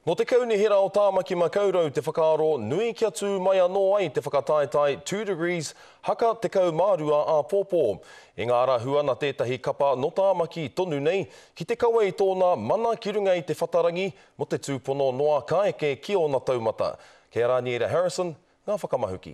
Nō te Kaunihera o Tāmaki Makaurau te whakaaro nui kia tū mai anō ai te whakataetae Two Degrees haka 12 āpōpō. I ngā ara huana tētahi kapa nō Tāmaki tonu nei ki te kawe i tōna mana ki runga i te whatarangi mō te tūpono noa ka eke ki ōna taumata. Kei a Raniera Harrison ngā whakamahuki.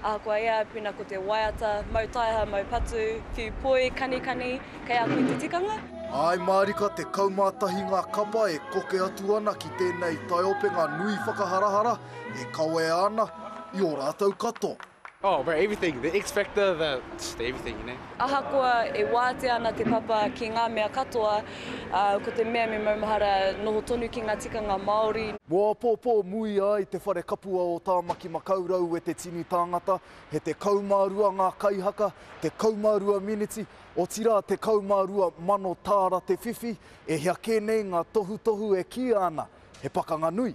Ahakoa ia, pēnā ko te waiata, mau taeha, mau patu, whiu poi, kanikani, kei a koe te tikanga. Āe mārika te kaumātahi ngā kapa e koke atu ana ki tēnei taiopenga nui whakaharahara e kawea ana i ō rātou katoa. Oh, bro, everything, the X-factor, the, just everything, you know. Ahakoa e wātea ana te papa ki ngā mea katoa, ā, ko te mea me maumahara noho tonu ki ngā tikanga Māori. Mō apōpō muia ai te whare kapua o Tāmaki Makaurau e te tini tāngata, he tekau mā rua ngā kaihaka, tekau mā rua miniti, otirā tekau mā rua mano tāra te whiwhi, e hia kē nei ngā tohutohu e kīia ana he pakanga nui.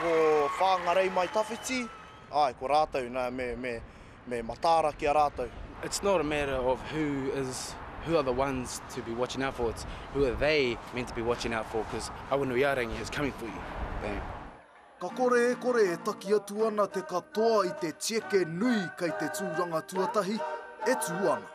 Ko Whangarei Mai Tawhiti, ae, ko ratou na me, me, me mataara ki a ratou. It's not a matter of who is, who are the ones to be watching out for, it's who are they meant to be watching out for, cos Awanuiarangi is coming for you, bang. Ka kore e kore e taki atu ana te katoa i te tieke nui kei te tūranga tuatahi e tū ana.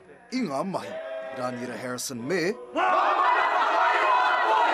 I ngā mahi, Rāniera Harrison me. Ngā mana whakairo a toi!